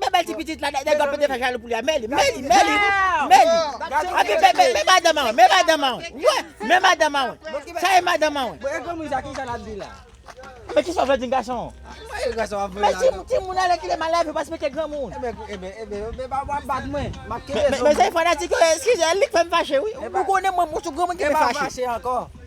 Bèbèl ti pitit la nèg la pete fè jalou pou li a mèli mèli mèli mèli api bèbèl men madanm an men madanm an wè men madanm an sa e madanm an wè men kisa w vle di gason an men timoun alè kile mal lavi w pa respekte granmoun mezanmi fanatik yo eskize li k fè m fache wi ou konnen mwen m sou granmoun ki fè m fache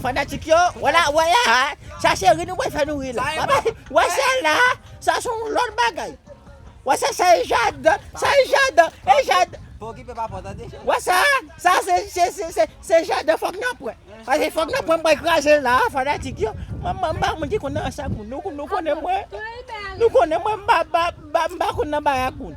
Fanatik yo, wè la, wè la ha, sa se ri nou wè fè nou ri la. Wè bay, wè sa la, sa son lòt bagay. Wè sa sa e jad, sa e jad, e jad. Fò ki pe pa fò tande. Wè sa, sa se se se se se jad fòk nan pwen. Pase fòk nan pwen mwen kraze la fanatik yo. Mwen mwen ba moun ki konn nan sa moun. Nou nou konnen mwen. Nou konnen mwen mba ba mba konn nan ba ya moun.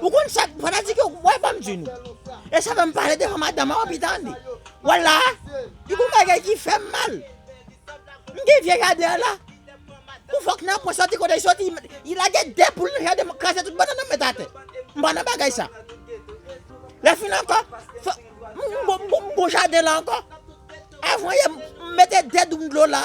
Ou konn sa fanatik yo wè banm di nou. E sa fèm pale devan madanm an anpi tande. Wè la, li gon bagay ki fèm mal. M gen vye jaden an la. Pou fòk nan pwen soti kote li soti, li lage 2 poul nan jaden m kraze tout bannann nan m met atè. M pa nan bagay sa. Lè fin ankò, m gon jaden la ankò. Avan yè m mete 2 doum dlo la.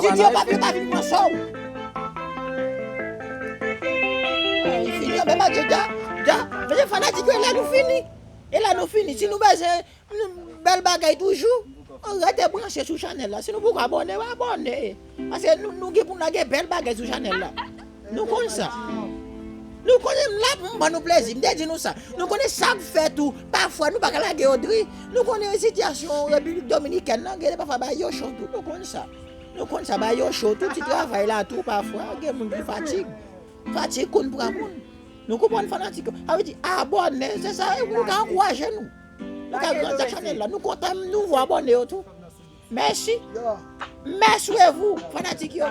Didye papye pa vin pran sow. Nou fini anbe madye da da mesye fanatik yo elè nou fini elè nou fini si nou bezwen bèl bagay toujou rete branche sou chanèl la si nou poko abòne abòne paske nou gen pou lage bèl bagay sou chanèl la. Nou konn sa. Nou konnen m la pou m ban nou plezi. M te di nou sa. Nou konnen sa k fè tou, pafwa nou pa ka lage Odri. Nou konnen sitiyasyon Repiblik Dominikèn lan gen lè pafwa bagay yo cho tou. Nou konn sa. Nou konn sa bagay yo cho tou. Ti travay la tou pafwa gen moun ki fatig. Fatig konn pran moun. Nou konprann fanatik yo. Sa vle di abòne, se sa e pou nou ka ankouraje nou. Nou ka grandi chanèl la. Nou kontan nouvo abòne yo tou. Mèsi. Mèswevou fanatik yo.